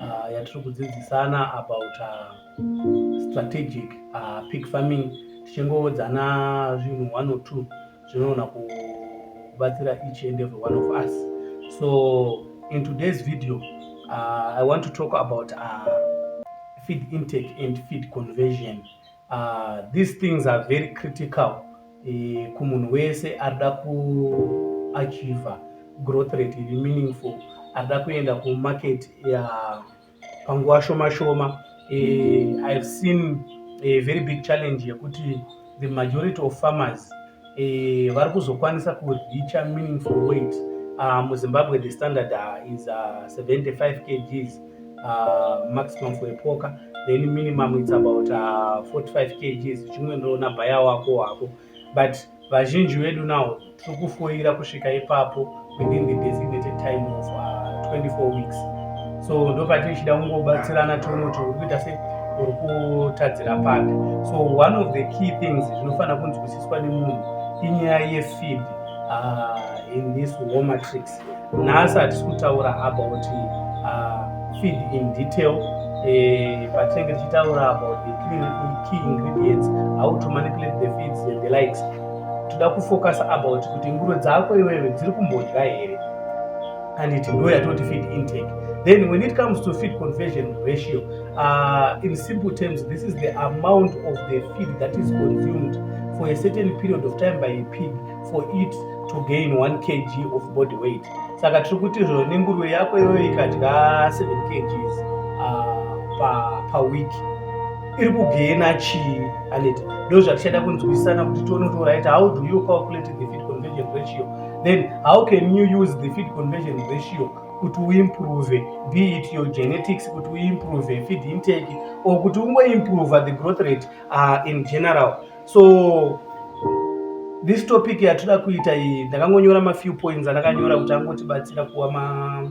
uh, yatiri kudzidzisana about uh, strategic uh, pig farming tichingoodzana zvinhu one or two zvinoona kubatsira each and every one of us so in today's video uh, i want to talk about uh, feed intake and feed conversion Uh, these things are very critical eh, kumunhu wese arida kuachiva growth rate iri meaningful arida kuenda kumarket ya panguva shoma shoma eh, ihave seen a very big challenge yekuti the majority of farmers eh, vari kuzokwanisa kuricha meaningful weight uh, muzimbabwe the standard uh, is uh, 75 kgs uh, maximum for epoka then minimum its about uh, 45 kgs chimwe ndoona bhaya wako wako but vazhinji vedu nawo tiri kufoira kusvika ipapo within the designated time of uh, 24 weeks so ndopatichida kungobatsirana tono to kuita se uri kutadzira papi so one of the key things zvinofanira kunzwisiswa nemunhu inyaya yefeed uh, in this war matrix nhasi hatisi kutaura about uh, feed in detail eh, patinenge tichitaura about the key ingredients how to manipulate the feeds and the likes toda kufocasa about kuti nguro dzako iwewe dziri kumbodya here and it ndo yatoti feed intake then when it comes to feed conversion ratio uh, in simple terms this is the amount of the feed that is consumed for a certain period of time by a pig for it to gain 1 kg of body weight saka tiri kuti zvo nenguruve yako iyoyo ikadya 7 kgs uh, pa, pa week iri kugena chii aneti ndo zvatichaida kunzwisisana kuti tione kuti right how do you calculate the feed conversion ratio then how can you use the feed conversion ratio kuti uimprove be it your genetics kuti uimprove feed intake or kuti ungoimprove the growth rate uh, in general so this topic yatoda kuita iyi ndakangonyora mafew points andakanyora kuti angotibatsira kuwa ma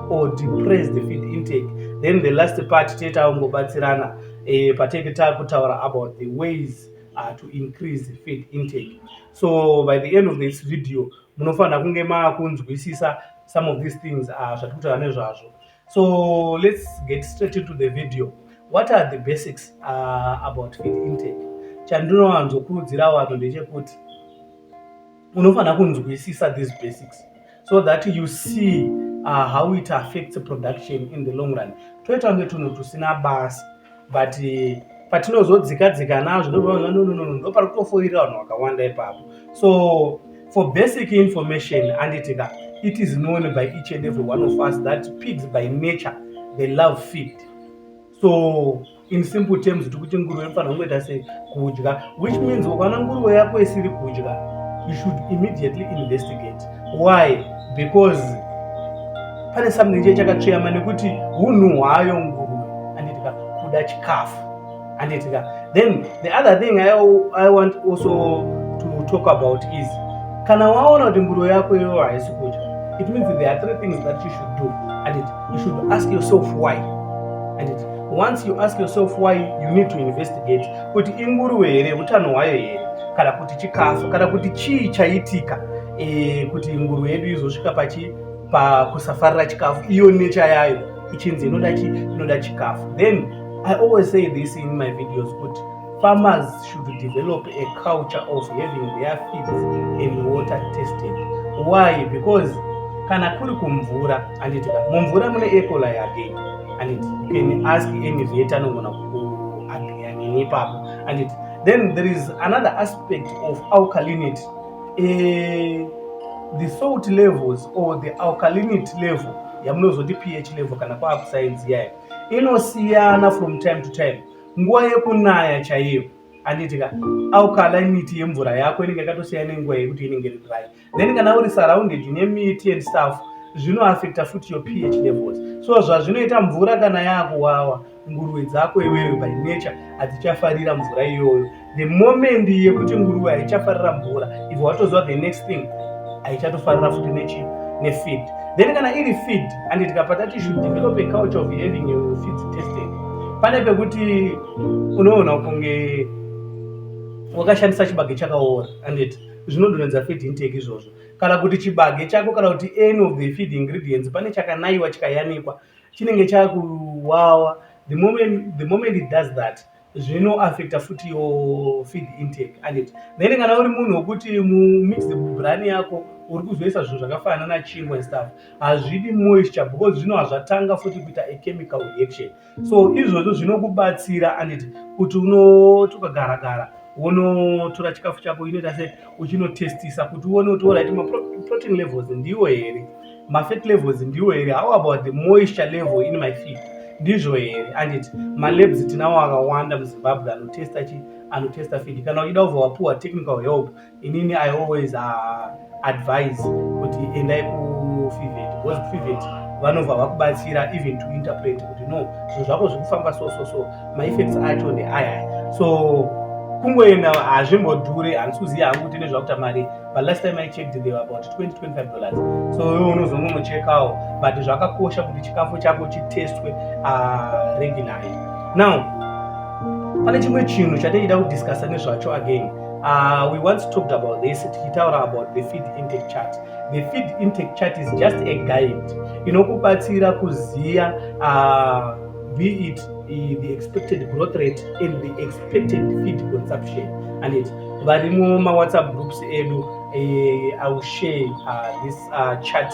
or depress the feed intake then the last part tete aungobatsirana eh, patete takutaura about the ways uh, to increase the feed intake so by the end of this video munofanira kunge makunzwisisa some of these things uh, zvatiri kutaura nezvazvo so let's get straight into the video what are the basics uh, about feed intake chandinowanzokurudzira vanhu ndechekuti unofanira kunzwisisa these basics so that you see uh, how it affects production in the long run toita kunge tunhu tusina basa but uh, patinozodzika dzika nazvo ndonononono ndo pari kutofoirira vanhu vakawanda ipapo so for basic information anditika it is known by each and every one of us that pigs by nature they love feed so in simple terms tiri kuti nguruve inofanira kungoita sei kudya which means ukaona nguruve yako isiri kudya you should immediately investigate why because pane something chee chakatsveyama nekuti hunhu hwayo nguruve anditika kuda chikafu anditika then the other thing I, i want also to talk about is kana waona kuti nguruve yako iyoyo haisi kudya it means there are three things that you should do anditi you should ask yourself why and it, once you ask yourself why you need to investigate kuti inguruve here utano hwayo here kana kuti chikafu kana kuti chii chaitika e, kuti nguruve yedu izosvika pachi pakusafarira chikafu iyo necha yayo ichinzi inoda chi inoda chikafu then i always say this in my videos kuti farmers should develop a culture of having their feeds and water tested why because kana kuri kumvura anditi mumvura mune ecola yake anditi you can ask any vet anogona kuagianini ipapo anditi then there is another aspect of alkalinity uh, the salt levels or the alkalinity level yamunozoti ph level kana kwakuscience yayo inosiyana from time to time nguva yekunaya chaiyo anditi ka au climate yemvura yako inenge yakatosiya nenguva yekuti inenge iri dry then kana uri surrounded nemiti and stuff zvinoaffecta futi your ph levels so zvazvinoita mvura kana yakuwawa nguruve dzako iwewe by nature hadzichafarira mvura iyoyo the moment yekuti nguruve haichafarira mvura if watoziva the next thing haichatofarira futi nechi nefeed then kana iri feed and tikapa tati should develop a culture of having a feed testing pane pekuti unoona kunge wakashandisa chibage chakaora andit zvinodonedza feed intake izvozvo kana kuti chibage chako kana kuti any of the feed ingredients pane chakanaiwa chikayanikwa chinenge chakuwawa the moment, the moment it does that zvino affecta futi yo feed intake and it then kana uri munhu wekuti mumix brani yako uri kuzoisa zvinhu zvakafanana na chingwa stuff hazvidi moisture because zvino hazvatanga futi kuita a chemical reaction so izvozvo zvinokubatsira and it kuti unoti ukagara gara wonotora chikafu chako inoita se uchinotestisa kuti uone kuti orit maprotein levels ndiwo here mafat levels ndiwo here how about the moisture level in my feet ndizvo here anditi malabs tinawo akawanda muzimbabwe anotesta chi anotesta feed kana uchida ubva wapuwa technical help inini i always uh, advise kuti endai kufivet because kufivet vanobva vakubatsira even to interpret kuti no zvinhu zvako zvikufamba so so so maeffects acho ndeaya so kungoenda hazvimbodhure handisi kuziva hangu kuti nezvakuta mari but last time i checked they were about 20 25 dollars so iwe unozongonochekawo but zvakakosha kuti chikafu chako chitestwe uh, regularly now pane chimwe chinhu chatichida kudiscussa nezvacho again Uh, we once talked about this tichitaura about the feed intake chart the feed intake chart is just a guide inokubatsira kuziva uh, be it uh, the expected growth rate and the expected feed consumption and it vari mumawhatsapp groups edu eh, i will share uh, this uh, chat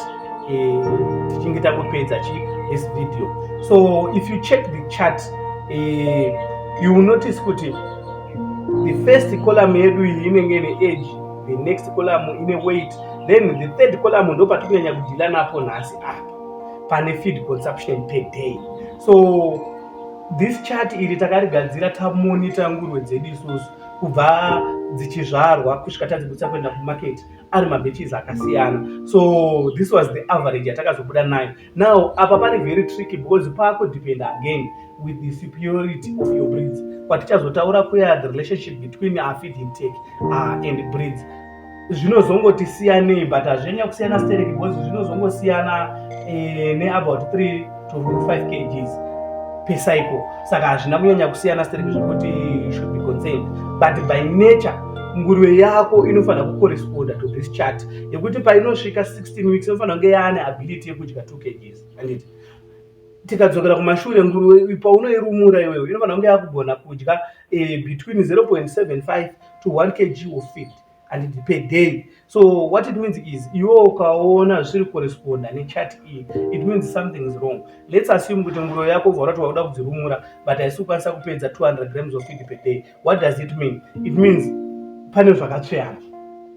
eh, tichinge takupedza chi this video so if you check the chat eh, you will notice kuti the first column yedu iyi inenge ine age the next column ine weight then the third column ndo patikunyanya kudhila napo nhasi apa pane feed consumption per day so this chart iri takarigadzira tamonita ngurwe dzedu isusu kubva dzichizvarwa kusvika tadzibudisa kuenda kumarket ari mabeches akasiyana so this was the average yatakazobuda nayo now apa pari very tricky because pakudepend again with the superiority of your breeds kwatichazotaura kuya the relationship between afid intake uh, and breeds zvinozongoti siyanei but hazvinyanya kusiyana sterek because zvinozongosiyana eh, neabout 3 to 5 kgs per cycle saka hazvina kunyanya kusiyana sterek zvekuti should be concerned but by nature nguruve yako inofanira kucorresponda to this chart yekuti painosvika 16 weeks inofanira kunge yaane ability yekudya 2 kgs anditi tikadzokera kumashure nguruve paunoirumura iwewe inofanira kunge yakugona kudya uh, between 0.75 to 1 kg of feed and per day so what it means is iwe ukaona zviri corresponda nechat iyi it means something is wrong let's assume kuti nguroyo yako ubva urati wakuda kudzirumura but haisi kukwanisa kupedza 200 grams of feed per day what does it mean it means pane zvakatsveyana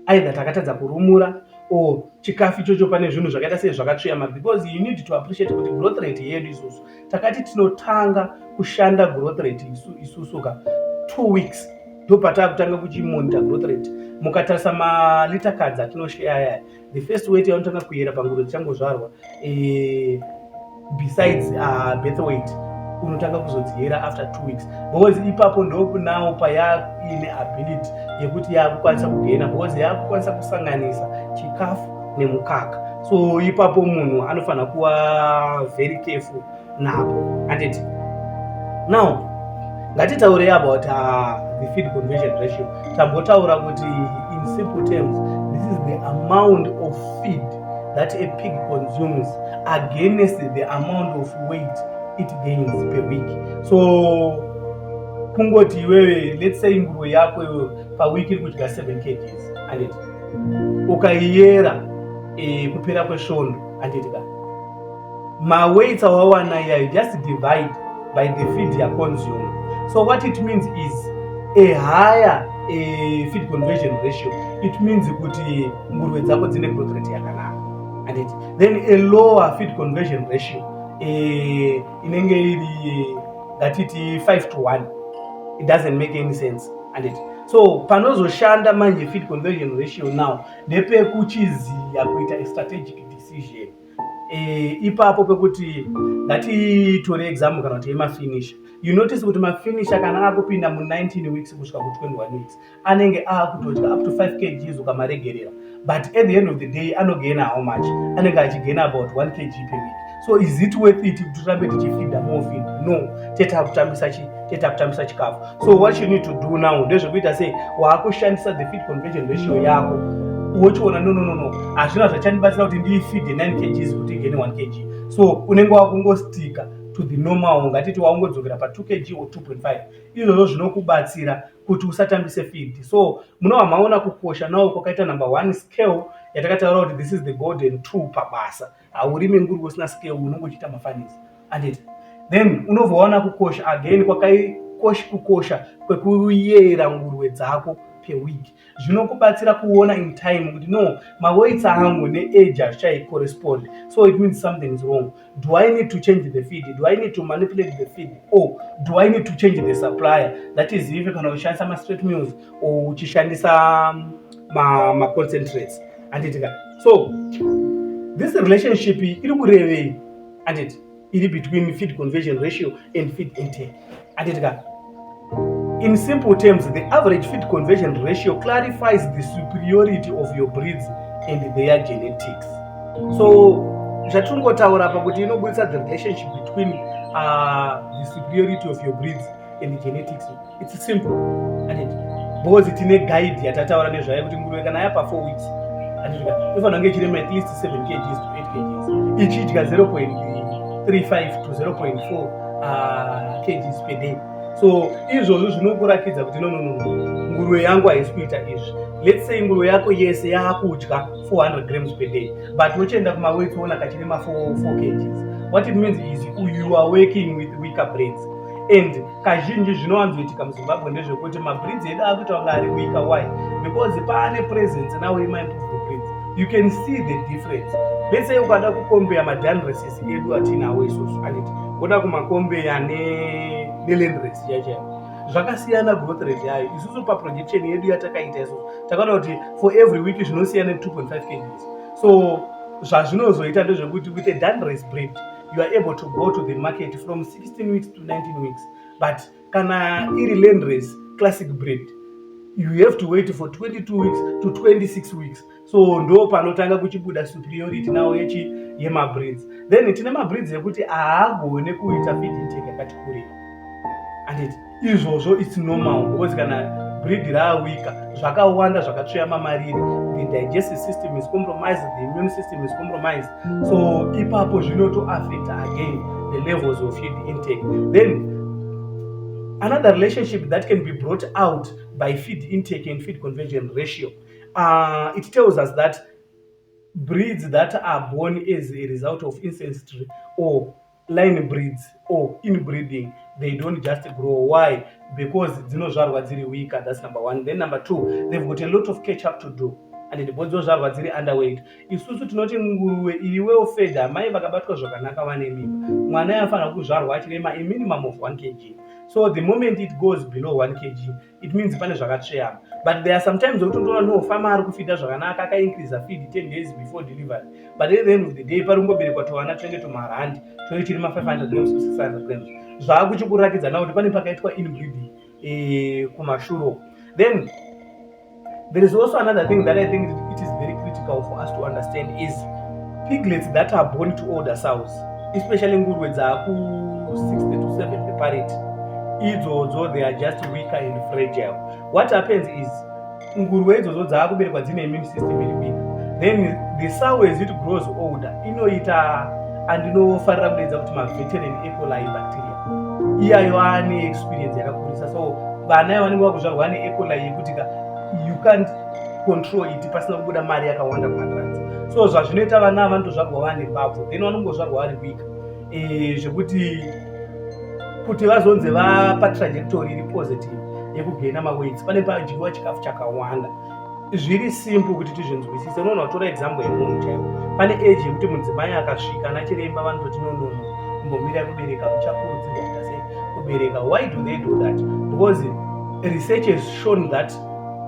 either takatadza kurumura or chikafu ichocho pane zvinhu zvakaita sei zvakatsveyama because you need to appreciate kuti growth rate yedu isusu takati tinotanga kushanda growth rate isu isusu ka two weeks ndopatakutanga kuchimonita growth rate mukatarisa malita kadzi atinosheya aya the first weight yaunotanga kuyera pangudo dzichangozvarwa eh, besides ah, birth weight unotanga kuzodziyera after two weeks because ipapo ndokunawo payaine ability yekuti yakukwanisa kugena because yakukwanisa kusanganisa chikafu nemukaka so ipapo munhu anofanira kuva very careful napo anditi now ngatitaurei about uh, the feed conversion ratio tambotaura kuti in simple terms this is the amount of feed that a pig consumes against the amount of weight it gains per week so kungoti iwewe let's say nguruwe yako iwewe pawiki iri kudya 7 kgs anditi ukaiyera e, kupera kwesvondo handiti ka maweights awawana iyayo just divide by the feed yaconsume so what it means is a higher a feed conversion ratio it means kuti nguruve dzako dzine growth rate yakanaka handiti then a lower feed conversion ratio e, inenge iri ngatiti 5 to 1 it doesn't make any sense handiti so panozoshanda manje fit conversion ratio now ndepekuchiziya kuita astrategic decision e, ipapo pekuti ngatitore exam kana kuti yemafinisha you notice kuti mafinisha kana akupinda mu19 weeks kusvika ku21 weeks anenge akutodya up to 5 kgs ukamaregerera but at the end of the day anogaina how much anenge achigaina about 1 kg per week so is it worth it kuti tirambe tichifida mofin no tete akutambisa chi tete akutambisa chikafu so what you need to do now ndezvekuita sei waakushandisa the feed convention ratio yako wochiona no no no no hazvina zvachandibatsira kuti ndiifide 9 kgs kuti igene 1 kg so unenge wakungostika to the normal ngatiti waungodzokera pa 2 kg or 2.5 izvozvo zvinokubatsira kuti usatambise field so munova maona kukosha nawo kwakaita number one scale yatakataura kuti this is the golden two pabasa haurime nguri usina scale unonge uchiita mafanisi anditi then unovoona kukosha again kwakaikosh kukosha kwekuyera nguruve dzako per week zvinokubatsira kuona in time kuti no maweits angu neage hazvichaicorrespond so it means something is wrong Do I need to change the feed? Do I need to manipulate the feed? Or do I need to change the supplier? That is if kana uchishandisa ma straight meals or uchishandisa um, ma, ma concentrates. Anditika. So this relationship iri kurevei? Anditi iri between feed conversion ratio and feed intake. Atitika. In simple terms, the average feed conversion ratio clarifies the superiority of your breeds and their genetics. So, zvatingotaura apa kuti inobudisa the relationship between uh, the superiority of your breeds and the genetics. It's simple. Because tine guide yatataura nezvayo kuti nguruve kana yapa 4 weeks inofanira kunge ichirema at least 7 kgs to 8 kgs ichidya 0.35 to 0.4 uh, kgs per day so izvozvo zvinokuratidza kuti no no no nguruve yangu haisi kuita izvi let's say nguruve yako yese yaakudya 400 grams per day but wochienda kumaweti woona kachine ma 4 kgs what it means is you are working with weaker breeds and kazhinji zvinowanzoitika muzimbabwe ndezvekuti mabreeds edu akuita kunge ari weaker why because paane presence now imaimproved breeds you can see the difference let's say ukada kukombea madanreses mabhazi edu atinawo izvozvo anditi woda kumakombe ane nelandres chaichaiyo zvakasiyana growth rate yayo isusu paprojection yedu yatakaita isu takaona kuti for every week zvinosiyana 2.5 kgs so zvazvinozoita ndezvekuti with a danres bread you are able to go to the market from 16 weeks to 19 weeks but kana iri landres classic bread you have to wait for 22 weeks to 26 weeks so ndo panotanga kuchibuda superiority nawo yechi yemabreeds then tine mabreeds ekuti haagone kuita feed intake yakati kurei anditi izvozvo its normal because kana breed raawika zvakawanda zvakatsveyama mariri the digestive system is compromised the immune system is compromised so ipapo zvinotoaffect again the levels of feed intake then another relationship that can be brought out by feed intake and feed conversion ratio Uh, it tells us that breeds that are born as a result of ancestry or line breeds or inbreeding they don't just grow why because dzinozvarwa dziri weaker that's number one then number two they've got a lot of catch up to do and ndipo dzozvarwa dziri underweight isusu tinoti nguruwe iri well fed amai vakabatwa zvakanaka vane mimba mwana yanofanira kuzvarwa achirema a minimum of 1 kg so the moment it goes below 1 kg it means pane zvakatsveyama but there are sometimes wotondoona no fama ari kufida zvakanaka akaincreasa feed 10 days before delivery but at the end of the day pari kungoberekwa tovana twenge tumarandi twenge tiri ma500 grams to 600 grams zvava kuchikurakidza na kuti pane pakaitwa inbreeding eh, kumashuro then There is also another thing that I think it is very critical for us to understand is piglets that are born to older sows, especially nguruwe dzaku 60 to 70 parity. Idzodzo they are just weaker and fragile. What happens is nguruwe idzodzo dzaakuberekwa dzine immune system iri weak. Then the sow as it grows older inoita andinofarira kudaidza kuti maveteran ecoli bacteria iyayo ane experience yakakurisa so vana ivo vanenge vakuzvarwa ane ecola yekuti ka you can't control it pasina kubuda mari yakawanda kumatrans so zvazvinoita vana ava vanotozvarwa vane mbabvu then vanongozvarwa vari week eh, zvekuti kuti vazonzi vapa trajectory iri positive yekugena maweights pane padyiwa chikafu chakawanda zviri simple kuti tizvinzwisise unoona utora example yemunhu chaiwo pane age yekuti mudzimai akasvika ana chiremba vanototi nonono kumbomira kubereka muchakurudzirwa kuita sei kubereka why do they do that because research has shown that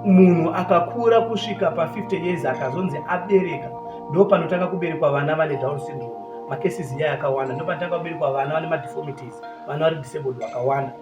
munhu akakura kusvika pa50 years akazonzi abereka ndo panotanga kuberekwa vana vane down syndrome macases iya yakawanda ndo panotanga kuberekwa vana vane madeformities vana vari disabled vakawanda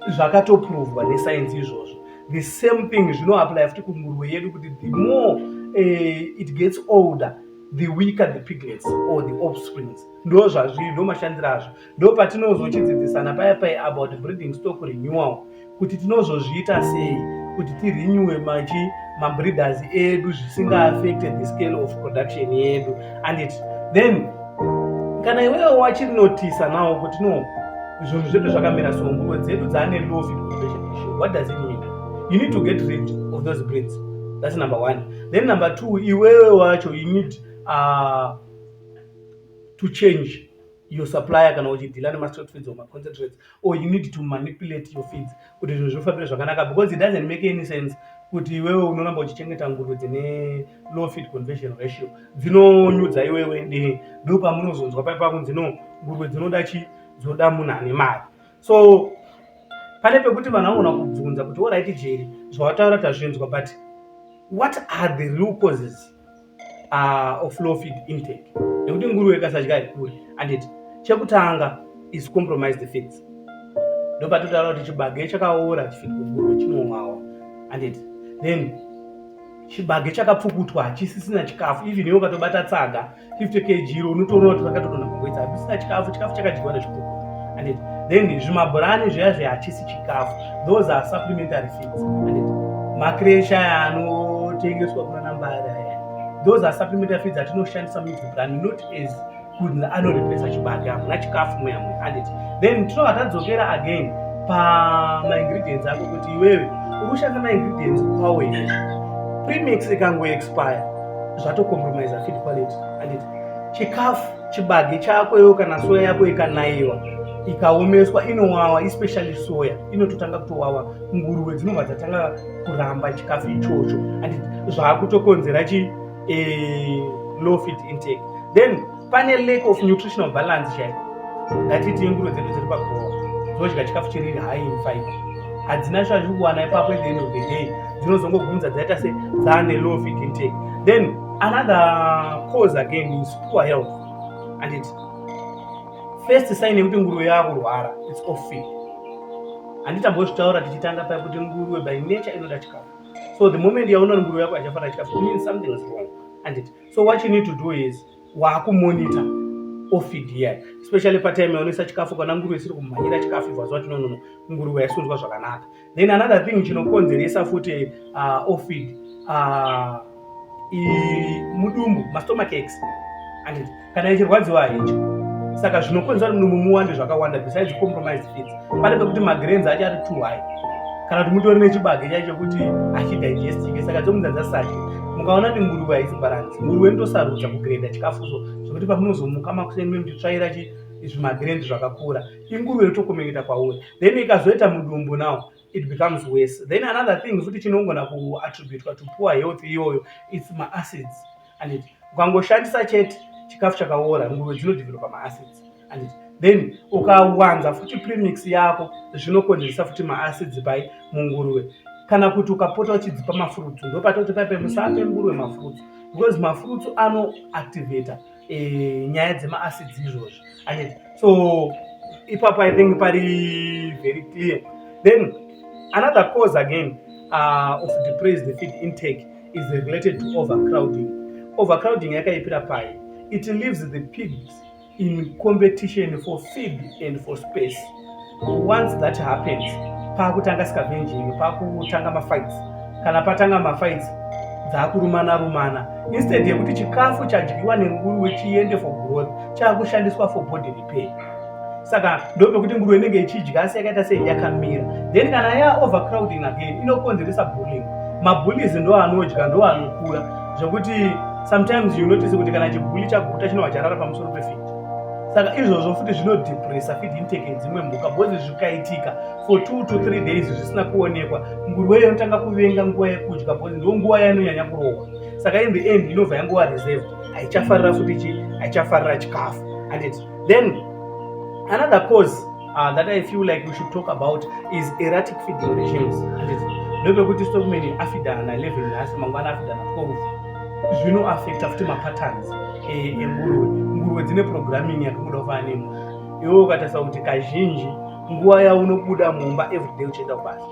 zvakatoprovwa nesainzi izvozvo the same thing zvinoapply futi kunguruve yedu kuti the more uh, it gets older the weaker the piglets or the offsprings ndo zvazviri ndo mashandiro azvo ndo patinozochidzidzisana paya paya about breeding stock renewal kuti tinozozviita sei kuti tirenewe machi mabreeders edu zvisingaafecte the scale of production yedu and it, then kana iwewo wachiri notisa nawo kuti no zvinhu zvedu zvakamira so nguvo dzedu dzaane low fit conservation issue what does it mean you need to get rid of those breeds that's number one then number two iwewe wacho you need uh, to change your supplier kana uchidhila nemastreet feeds or maconcentrates or you need to manipulate your feeds kuti zvinhu zvifambire zvakanaka because it doesn't make any sense kuti iwewe unoramba uchichengeta nguruve dzine low feed conversion ratio dzinonyudza iwewe ndi ndo pamunozonzwa pai pakunzi no nguruve dzinoda chi dzinoda munhu ane mari so pane pekuti vanhu vanogona kubvunza kuti orit jeri zvawataura tazvinzwa but what are the real causes uh, of low feed intake nekuti nguruve ikasadya haikuri and it chekutanga is compromise the feeds ndopatotaura kuti chibage chakaora chifidi nguruve chinowawa and it then chibage chakapfukutwa hachisisina chikafu even iwe ukatobata tsaga 50 kg iro unotoona kuti vakatogona kugwedza hapisina chikafu chikafu chakadyiwa nezvikuku and then zvimabhurani zviya zve hachisi chikafu those are supplementary feeds and makresha anotengeswa kuna nambari aya those are supplementary feeds atinoshandisa mubhurani not as kuti anorepresa chibage hamuna chikafu muyamwe and then tinobva tadzokera again pamaingredients ako kuti iwewe uri kushandisa maingredients kwawo here premix ikangoexpire zvato compromise feed quality and it chikafu chibage chako iwo kana soya yako ikanaiwa ikaomeswa inowawa especially soya inototanga kutowawa nguruve dzinobva dzatanga kuramba chikafu ichocho and zvaakutokonzera chi eh, low feed intake then pane lack of nutritional balance chaiko ngatiti inguro dzedu dziri pagowa dzinodya chikafu chiri high in fiber hadzina zvazvi kuwana ipapo at the end of the day dzinozongogunza dzaita se dzaane low feed intake then another cause again is poor health and it first sign yekuti nguruve yakurwara its off feed handitambozvitaura tichitanga paya kuti nguruve by nature inoda chikafu so the moment yaunoona nguruve yako achafanira chikafu means something is wrong and it so what you need to do is waakumonita ofid here especially patime yaonesa chikafu kana nguruve isiri kumhanyira chikafu ibva zva tinonono nguruve yaisunzwa zvakanaka then another thing chinokonzeresa futi uh, ofid uh, mudumbu mastomach ex anditi kana ichirwadziwa hecho saka zvinokonzera mudumbu muwande zvakawanda besides compromised feeds pane pekuti magrains acho ari too high kana kuti mutori nechibage chaicho kuti hachidigestike saka dzomunza dzasati mukaona kuti nguruve haisi balance nguruve inotosarudza kugreda chikafu so zvekuti pamunozomuka makuseni memuchitsvaira chi zvimagrand zvakakura inguruve yotokomeketa kwauri then ikazoita mudumbu now it becomes worse then another thing futi chinongona kuattributwa to poor health iyoyo its maacids anditi ukangoshandisa chete chikafu chakaora nguruve dzinodevelopa maacids anditi then ukawanza futi premix yako zvinokonzeresa futi maacids pai munguruve kana kuti ukapota uchidzipa mafurutsu ndopatoti paipe musape nguruve mafurutsu because mafurutsu anoactivator eh, nyaya dzemaacids izvozvi anditi so ipapo i think pari very clear then another cause again uh, of depressed feed intake is related to overcrowding. Overcrowding yakaipira pai? It leaves the pigs in competition for feed and for space. Once that happens, pakutanga scavenging, pakutanga mafights. Kana patanga mafights, dzakurumana rumana. Instead yekuti chikafu chadyiwa nenguruwe chiende for growth, chakushandiswa for body pay saka ndopekuti nguruve inenge ichidya asi yakaita sei yakamira then kana ya overcrowding again inokonzeresa bullying mabullies ndo anodya ndo anokura zvekuti sometimes you notice kuti kana chibuli chaguta chinova charara pamusoro pefit saka izvozvo futi zvinodepressa feed intake yedzimwe mhuka bcoz zvikaitika for two to three days zvisina kuonekwa nguruve iyo inotanga kuvenga nguva yekudya bcoz ndo nguva yanonyanya kurohwa saka in the end inobva yanguva reserved haichafarira futi chi haichafarira chikafu and it then another cause uh, that i feel like we should talk about is erratic feeding regimes and it ndopekuti stokumene afidana level nhasi mangwana afidana twelve zvino affecta futi mapatterns eh, enguruve nguruve dzine programming yakangoda kufana nemu iwe ukatarisa kuti kazhinji nguva yaunobuda mumba everyday uchienda kubasa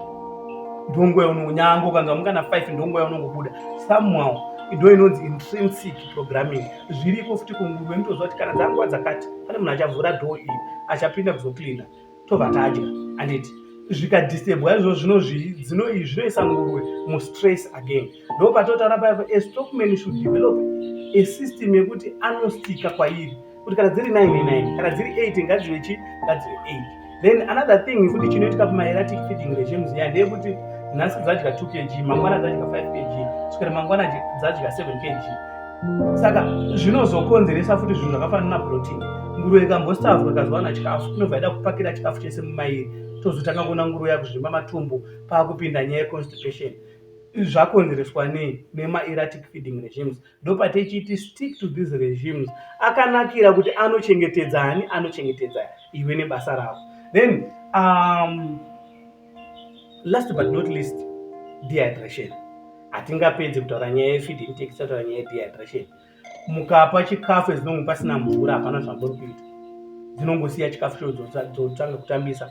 ndonguva yaunongo nyange ukangamuka na five ndonguva yaunongobuda somehow ido inonzi intrinsic programming zviriko futi kunguruve mutoziva kuti kana dzanguva dzakati pane munhu achavhura dho iyi achapinda kuzocleana tobva tadya anditi zvikadistebwa izvo zvino zvinoisa nguruve mustress again ndo patotaura paipa a stockman should develop a system yekuti anostika kwairi kuti kana dziri 99 kana dziri 8 ngadzive chi ngadzive 8 then another thing futi chinoitika pamaeratic feeding regimes ya ndeyekuti nhasi dzadya 2 kg mangwana dzadya 5 kg kusvika mangwana dzadya 7 kg saka zvinozokonzeresa futi zvinhu zvakafanana naprotein nguruve ikambosavwa ikazowana chikafu inobva ida kupakira chikafu chese mumairi tozotanga kuona nguruve yakuzvimba matumbu paakupinda nyaya yeconstipation zvakonzereswa nei nemaeratic feeding regimes ndopatechiti stick to these regimes akanakira kuti anochengetedza ani anochengetedza iwe nebasa ravo then um, last but not least dehydration hatingapedzi kutaura nyaya yefeeding tekisataura nyaya yedehydration mukapa chikafu ezinonge pasina mvura hapana zvambori kuita dzinongosiya chikafu chodzotanga kutambisa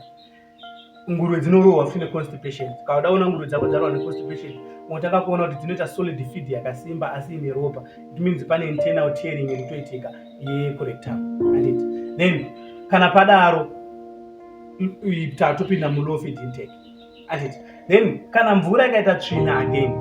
nguruve dzinorohwa futi neconstipation kauda kuona nguruve dzako dzarohwa neconstipation unotanga kuona kuti dzinoita solid feed yakasimba asi ine ropa it means pane internal tearing irikutoitika yecorectum andit then kana padaro tatu pinda mulow feed intake andit then kana mvura ikaita tsvina again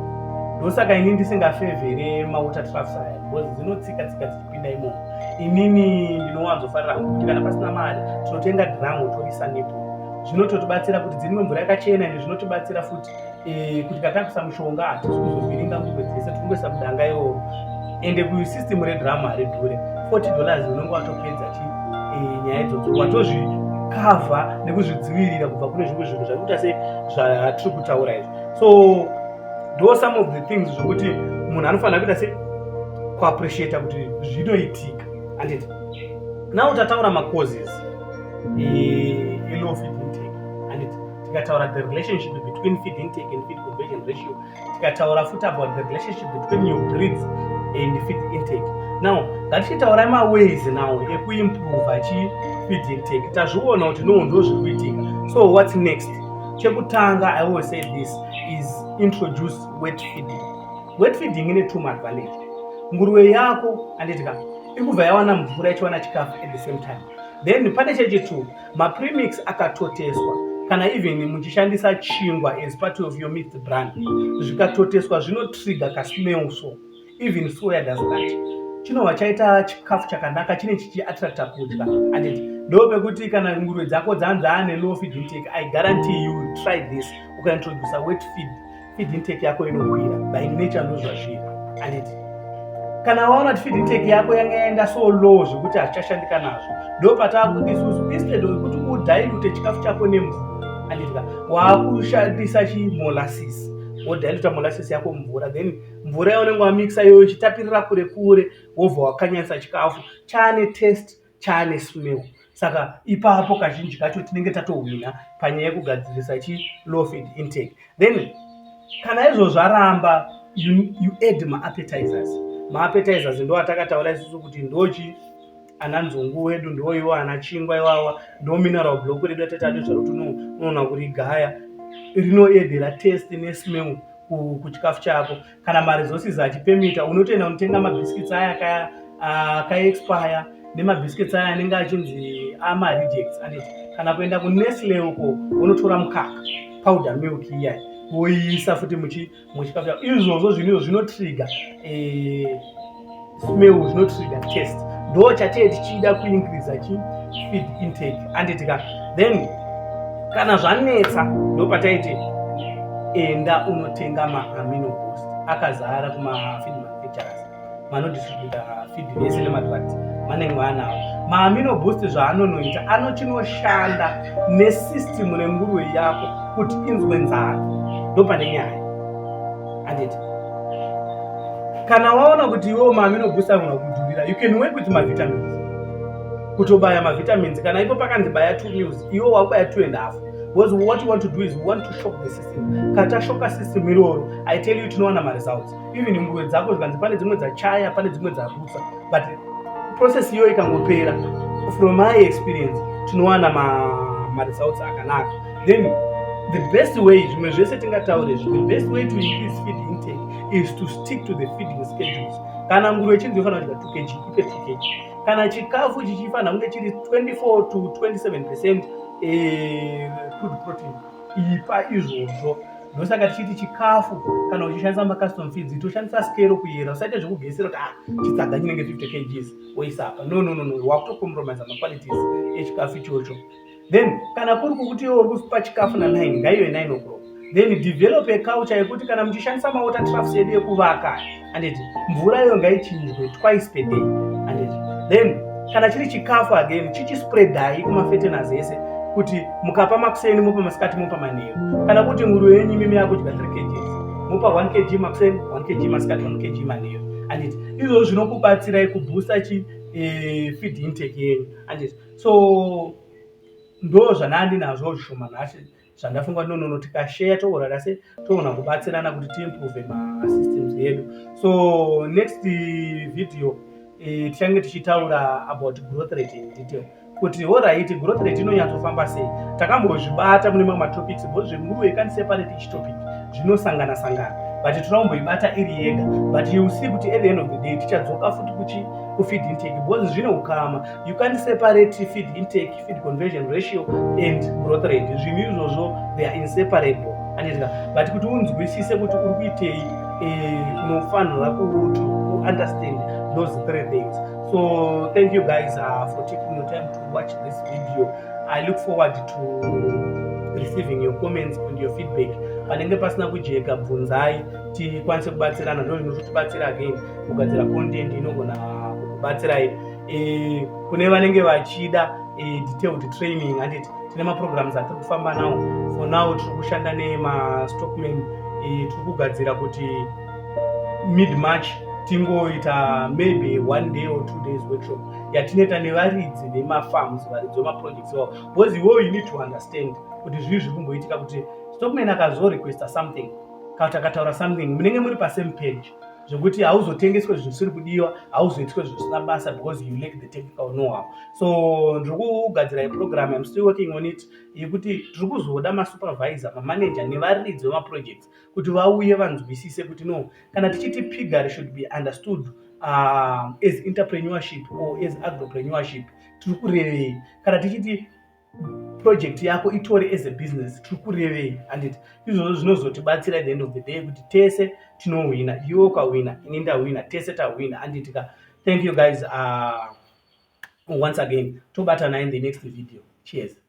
ndosaka ini ndisingafevhere mawater trafs aya because dzinotsika tsika dzichipinda imomo inini ndinowanzofarira hangu kuti kana pasina mari tinotenga dhiramu toisa nepo zvinototibatsira kuti dziri mvura yakachena ende zvinotibatsira futi eh, kuti katakusa mushonga hatisi kuzovhiringa nguve dzese tikungoisa mudanga iwowo ende kusystem redrama haridhure 40 dollars unenge watopedza chi eh, nyaya idzodzo watozvikavha nekuzvidzivirira kubva kune zvimwe zvinhu zvakuita se zvatiri kutaura izvi so do some of the things zvokuti munhu anofanira kuita se kuappreciata kuti zvinoitika anditi now tataura macauses elow feed intake anditi tikataura the relationship between feed intake and feed conversion ratio tikataura futi about the relationship between your breeds and feed intake now ngatichitaurai maways now ekuimprova chi feed intake tazviona kuti no ndo zviri kuitika so what's next chekutanga i will say this is introduce wet feeding wet feeding ine two advantage nguruve yako anditika ikubva yawana mvura ichiwana chikafu at the same time then pane chechitu Mapremix akatoteswa kana even muchishandisa chingwa as part of your meat brand zvikatoteswa zvinotrigger kasmell so even soya does that chinova chaita chikafu chakanaka chine chichiattracta kudya and ndo pekuti kana nguruve dzako dzanzaa nelow feed intake i guarantee you try this ukaintroducer wet feed feed intake yako inokwira by nature ndozva zviri anditi kana waona kuti feed intake yako yanga yaenda so low zvekuti hachichashandika nazvo ndo pataa kuti isusu instead wekuti udilute chikafu chako nemvura anditika waakushandisa chimolasis wodiluta molasis yako mvura then mvura yaunenge wamixa iyoyo ichitapirira kure kure wobva wakanyanyisa chikafu chaane test chaane smell saka ipapo kazhinji kacho tinenge tatohwina panyaya yekugadzirisa chi low feed intake then kana izvozvo aramba you, you add maappetizers maappetizers ndo atakataura isusu kuti ndochi ana nzungu wedu ndiwo iwo ana chingwa iwawa ndo mineral block redu atatadi zvaruti unoona kuri gaya rinoedera test nesmell kuchikafu chako kana maresources achipemita unotoenda unotenga mabiscuits aya akaya akaexpire nemabiscuits aya anenge achinzi amarejects and kana kuenda kunestle uko unotora mukaka powder milk iyai woiisa futi muchikafuta izvozvo zvinhu izvo zvinotriga eh, smell was not sweet at taste ndo chatiye tichida kuincreasa chi feed intake anditika then kana zvanetsa ndo pataiti enda unotenga maamino post akazara kumafeed manufacturers manodistributa feed vese nemadrugs manenge vaanawo maamino boost zvaanonoita anochinoshanda nesystem renguruve yako kuti inzwe nzara ndo pane nyaya Handiti? Kana waona kuti iwewo mami inobusa mwana kudhurira, you can work with mavitamins. Kutobaya mavitamins kana ipo pakanzi baya two meals, iwewo wakubaya two and a half. Because what you want to do is you want to shock the system. Kata shoka system iroro, I tell you tinowana maresults. Even nguwe dzako zvikanzi pane dzimwe dzachaya, pane dzimwe dzabutsa. but process iyoyo ikangopera from my experience tinowana maresults akanaka then the best way zvimwe zvese tingataure the best way to increase feed intake is to stick to the feeding schedules kana nguruve chinzi yofanira kudya 2 kg ipe 2 kg kana chikafu chichifanira kunge chiri 24 to 27 percent eh, food protein ipa izvozvo ndosaka tichiti chikafu kana uchishandisa macustom feeds toshandisa skero kuyera usaite zvekugesera kuti ah chitsaga chinenge 50 kgs woisa apa no no no no wakutokompromisa maqualities echikafu ichocho then kana kuri kukuti iwe uri kupa chikafu na 9 ngaive 9 o'clock then develop a culture yekuti kana muchishandisa mawater troughs edu ekuvaka anditi mvura iyo ngaichinjwe twice per day anditi then kana chiri chikafu again chichispreadai kumafetenas ese kuti mukapa makuseni mopa masikati mopa manheru kana kuti muru yenyu imimi yakudya 3 kgs mopa 1 kg makuseni 1 kg masikati 1 kg manheru anditi izvozvo zvinokubatsirai kubhusta chi eh, feed intake yenyu anditi so ndo zvanandinazvo zvishoma nhasi zvandafunga no no no tikasheya tourara se toona kubatsirana kuti tiimprove masystems edu so next video eh, tichange tichitaura about growth rate in detail kuti horaiti growth rate inonyatsofamba sei takambozvibata mune mamwe matopics bo zvenguruve kani separate each topic zvinosangana sangana but tinokumboibata iri yega but you see kuti at the end of the day tichadzoka futi kuchi kufeed intake because zvine ukama you can't separate feed intake feed conversion ratio and growth rate zvinhu izvozvo they are inseparable anditika but kuti unzwisise kuti uri kuitei eh, unofanira kuto understand those three things so thank you guys uh, for taking your time to watch this video i look forward to receiving your comments and your feedback panenge pasina kujeka bvunzai tikwanise kubatsirana ndozvinozotibatsira again kugadzira content inogona kubatsirai eh, kune vanenge vachida eh, detailed training handiti tine maprograms atiri kufamba nawo for now tiri kushanda nemastockman eh, tiri kugadzira kuti mid march tingoita maybe one day or two days workshop yatinoita nevaridzi vemafarms varidzi vemaprojects vavo because iwoyo you need to understand kuti zvii zviri kumboitika kuti stockman akazorequesta something kati akataura something munenge muri pasame page zvekuti hauzotengeswe zvinhu zvisiri kudiwa hauzoitwe zvinhu zvisina basa because you lack the technical knowhow so ndiri kugadzira iprogram im still working on it yekuti tiri kuzoda masupervisor mamanager nevaridzi vemaprojects kuti vauye vanzwisise kuti no kana tichiti pigary should be understood uh, as interpreneurship or as agropreneurship tiri kurevei kana tichiti project yako itore as a business tiri kurevei handiti izvozvo zvinozotibatsira at the end of the day kuti tese tinohwina iwe ukahwina ini ndahwina tese tahwina handiti ka thank you guys uh, once again tobatana in the next video cheers